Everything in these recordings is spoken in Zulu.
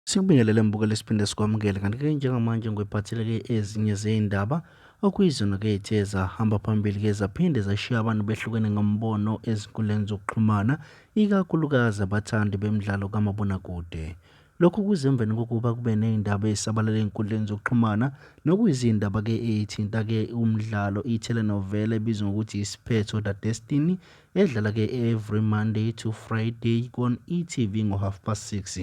Sikubingelele mbukeli siphinde sikwamukele kanti-ke njengamanje ngwephathele-ke ezinye zey'ndaba okuyizona-ke ethe zahamba phambili-ke zaphinde zashiya abantu behlukene ngombono ezinkundleni zokuxhumana ikakhulukazi abathandi bemidlalo kamabonakude lokhu kuze emveni kokuba kube ney'ndaba ezisabalele ey'nkundleni zokuxhumana nokuyizindaba-ke eyithinta-ke umdlalo i-telenovela ebizwa ngokuthi isiphetho the destiny edlala ke every monday to friday kon-etv ngo-half past six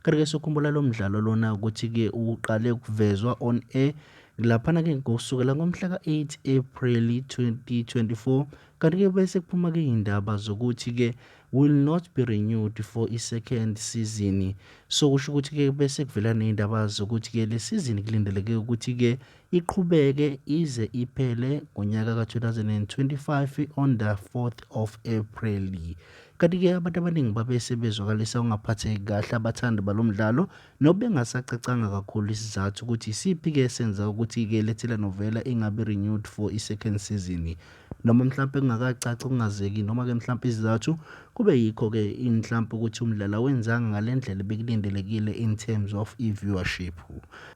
kanti-ke sokhumbula lo mdlalo lona ukuthi-ke uqale ukuvezwa on air laphana ke kusukela ngomhla ka-8 April 2024 kanti-ke bese kuphuma-ke iy'ndaba zokuthi-ke will not be renewed for i-second season so kusho ukuthi-ke bese kuvela ney'ndaba zokuthi-ke le sizini kulindeleke ukuthi-ke Iqhubeke ize iphele ngonyaka ka-2025 on the 4th of April. Kanti-ke abantu abaningi babe sebezwakalisa ukungaphatheki kahle abathandi balo mdlalo nobengasacacanga kakhulu isizathu ukuthi isiphi-ke esenza ukuthi-ke le telenovela ingabi renewed for i-second season noma mhlawumpe kungakacaci kungazeki noma-ke mhlawumpe isizathu kube yikho-ke mhlawumpe ukuthi umdlalo awenzanga ngale ndlela ebekulindelekile in terms of i-viewership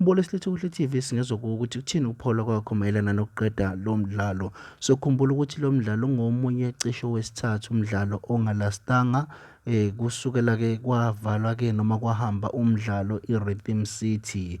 Mbolo silethe kuhle TV singezwa kuwo ukuthi kuthini ukuphola kwakho mayelana nokuqeda lo mdlalo. Sokhumbula ukuthi lo mdlalo ungomunye cisho wesithathu umdlalo ongalastanga eh kusukela ke kwavalwa ke noma kwahamba umdlalo iRhythm City